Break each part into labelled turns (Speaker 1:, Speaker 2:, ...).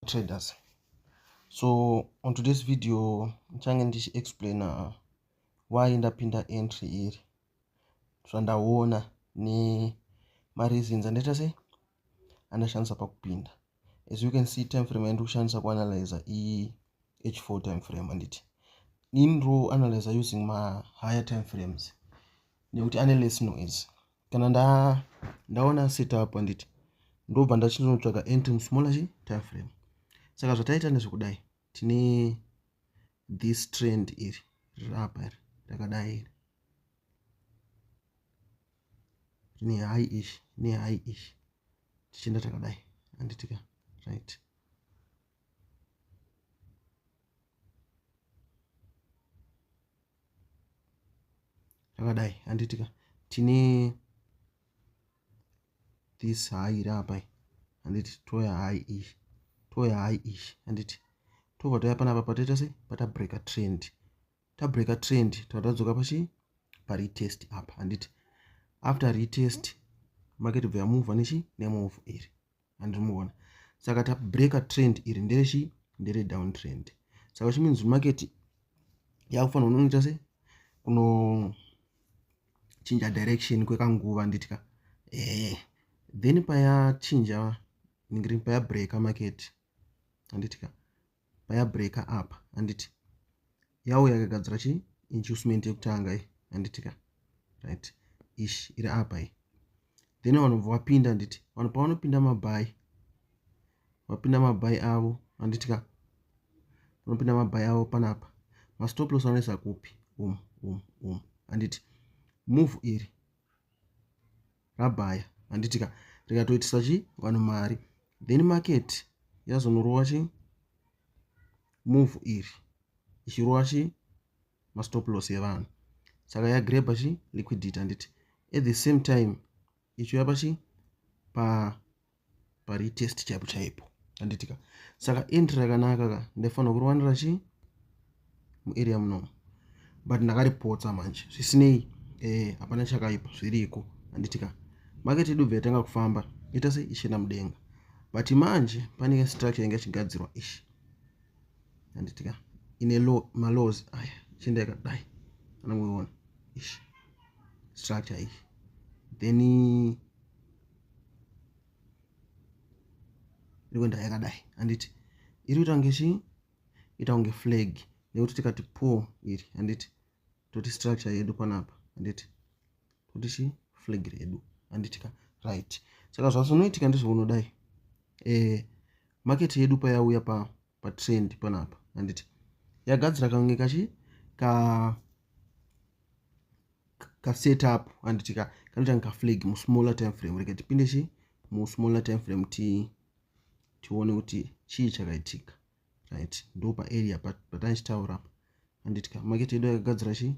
Speaker 1: traders so on today's video ndichange ndichiexplaina uh, why ndapinda entry iri zvandaona nemareasons andaita sei andashandisa pakupinda as you can see time frame yandi kushandisa kuanalyza ih4 time frame anditi ini ro analyza using mahigher time frames nekuti ane less noise kana nda ndaona setup handiti ndobva ndachinotsvaga entm smaller chi tire frame saka zvataita nezvekudai tine this trend iri riri apa iri rakadai iri rine high ish ne high ish tichienda takadai handitika right zvakadai handitika tine this hai iri apa handiti toya hai ish toya hai ish handiti tobva toya panapa patoita sei patabreaker trend tabreaker trend tatadzoka pachi paretest apa handiti after retest market bva yamuvha nechi nemove iri andiri muona saka tabreaker trend iri nderechi ndere down trend saka which means market yakufanira unoita se kunochinja direction kwekanguva nditya ee then payachinja ndingiri payabreaker market anditya payabreaker apa handiti yawo yakagadzira chi inducement yekutanga i handiti ka right ish iri apa i then vanobva vapinda handiti vanhu pavanopinda mabhayi vapinda mabhayi avo handiti ka vanopinda mabhayi avo panapa mastoplos anoisa kupi um um um handiti move iri rabaya handiti ka rikatoitisa chi vanhu mari then market yazonorova chi move iri ichirova chi mastop loss evanhu saka yagreba chi liquidity handiti at the same time ichiuya pachi pa paretest chaipo chaipo anditika saka int rakanaka ka ndaifanira kuriwanira chii muarea munomu but ndakaripotsa manje zvisinei eh, hapana chakaipa zviriko anditika market yedu bva yatanga kufamba ita sei ichienda mudenga but manje panenge structure inge ichigadzirwa ishi anditika ine low malaws aya chienda yakadai anangoiona ishi structure iyi then iri kuenda yakadai handiti iri kuita kunge chii ita kunge flag nekuti tikati po iri handiti toti structure yedu panapa handiti toti chii flag redu handitika right saka zvazonoitika ndezvounodai e, eh, market yedu payauya pa patrend panapa handiti yagadzira kange kachi ka kasetup handiti ka kanoita nge kaflag musmaller time frame rega tipinde chi musmaller time frame ti tione kuti chii chakaitika right ndo paarea patanichitaura pa handiti ka market yedu yakagadzira chii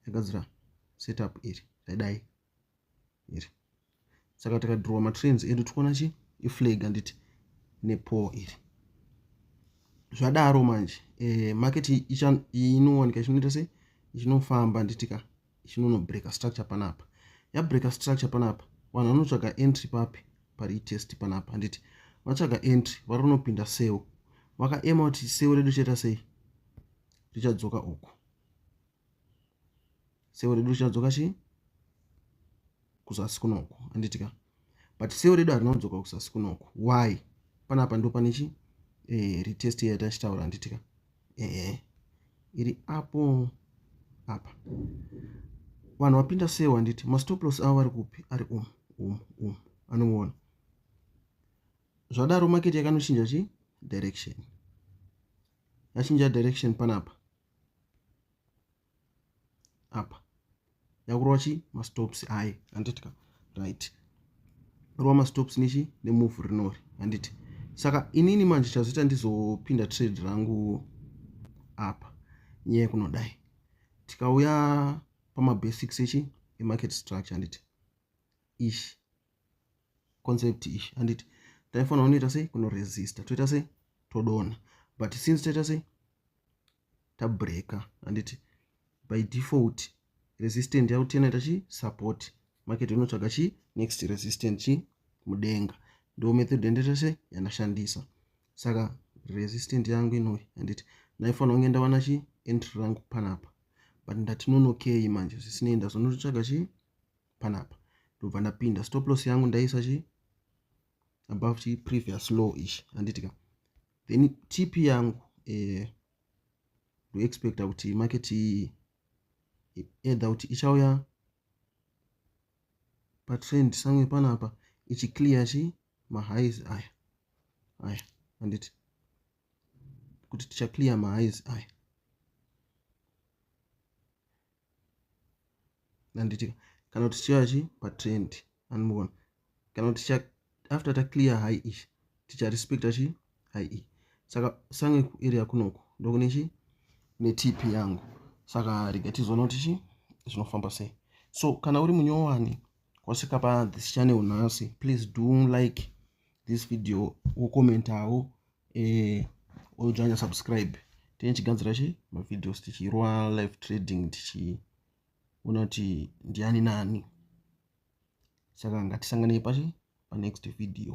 Speaker 1: yagadzira setup iri zvaidai iri saka tikadhirowa matrains edu tikuona chi iflag handiti nepol iri zvadaro manje e, market inowanika ichinoita sei ichinofamba handitika ichinonobreaker structure panapa yabreaker structure panapa vanhu vanotsvaga entry papi pari itest panapa handiti vatsvaga entry vari kunopinda sewo vakaema kuti sewo redu chaita sei richadzoka uku sewo redu richadzoka chii kuzasi kunoku anditi ka but sewo redu harina kudzoka kuzasi kunoku why panapa ndo pane chi eh, retest iya yatachitaura anditi ka ehe iri apo apa vanhu vapinda sewo anditi mastoplos avo vari kupi ari um um um anomuona zvadaro maketi yakanoshinja chi direction yachinja direction panapa apa yakurova chi mastops aye handitika right rova mastops nechi nemove rinori handiti saka inini manje chazoita ndizopinda trade rangu apa nyaya kunodai tikauya pamabasics echi emarket structure handiti ish concept ish handiti taifanira kunoita sei kunoresista toita sei todona but since toita sei tabreaker handiti by default resistant yakuti inoita chi support market inotsvaga chi next resistant chi mudenga ndo method yandaita sei yandashandisa saka resistant yangu inoi handiti ndaifanira kunge ndawana chi entry rangu panapa but ndati nonokei manje zvisinei ndazonototsvaga chii panapa ndobva ndapinda stop loss yangu ndaisa chi above chi previous low ichi handiti ka then tip yangu eh, ndoexpecta kuti market either kuti ichauya patrend samwe panapa ichiclear chi mahighs aya aya handiti kuti tichaclear mahighs aya handiti kana kuti tichiva chi patrend anmuona kana kuti ticha after taclear high e ticharespecta chi high e saka sange kuarea kunoku ndokune chi netip yangu saka rega tizoona kuti chi zvinofamba sei so kana uri munyowani kwasvika pathis channel nhasi please do like this video wokomentawo eh ojoina subscribe tine chigadzira che mavideos tichirwa live trading tichiona kuti ndiani nani saka ngatisanganei pachi panext video